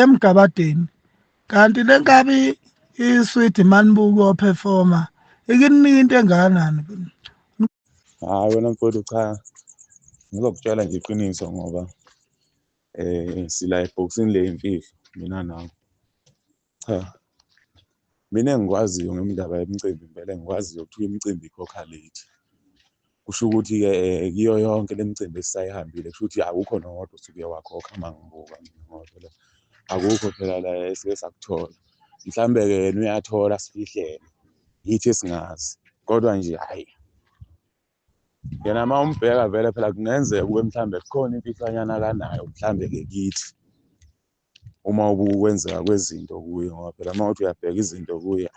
emgabadeni kanti le nkabi i-sweet manibuko performer ikininika into engakanani hayi wena mfowethu cha ngizokutshela nje iqiniso ngoba eh sila ebhokisini le imfihlo mina nawe cha mina engikwaziyo ngemindaba yemicimbi impela engikwaziyo kuthiwa imicimbi ikhokha late kusho ukuthi-ke um kiyo yonke le micimbi esisayihambile kusho ukuthi akukho nowodwa osuke wakhokha uma ngibuka mina ngodwa la akukho phela la esike sakuthola mhlawumbe-ke yena uyathola sifihlele yithi esingazi kodwa nje hhayi yena uma umbheka vele phela kungenzeka kube mhlawumbe kukhona imfihlwanyana akanayo mhlawumbe-ke kithi uma ubukwenzeka kwezinto kuye ngoba phela uma uthi uyabheka izinto kuye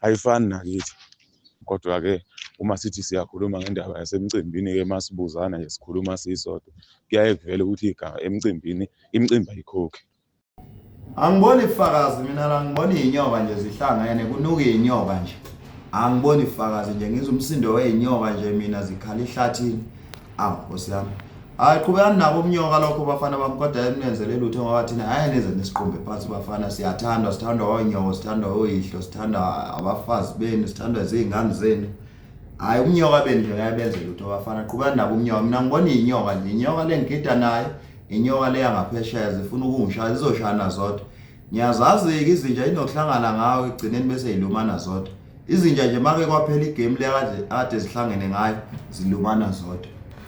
ayifani nakithi kodwa-ke uma sithi siyakhuluma ngendaba yasemcimbini-ke uma sibuzana nje sikhuluma sisodwa kuyaye kuvele ukuthi igama emcimbini imicimbi ayikhokhi angiboni ifakazi mina la ngibona iy'nyoka nje zihlangene kunuka iy'nyoka nje angiboni ifakazi nje ngizwa umsindo wey'nyoka nje mina zikhala ihlathini awu nkosi yami hayi qhubekani nabo umnyoka lokho bafana bami kodwa emnenzele lutho ngoba thina hayi nize nisiqumbe phansi bafana siyathandwa sithandwa wonyoko sithandwa oyihlo sithandwa abafazi benu sithandwa zingane zenu hayi umnyoka benu nje yabenze lutho bafana qhubekani nabo umnyoka mina ngibona inyoka nje inyoka lengigida nayo inyoka leya ngaphesheya zifuna ukungishaya zizoshana zodwa ngiyazazi-ke izinja inokuhlangana ngawo ekugcineni bese yilumana zodwa izinja nje make kwaphela igame leya kade zihlangene ngayo zilumana zodwa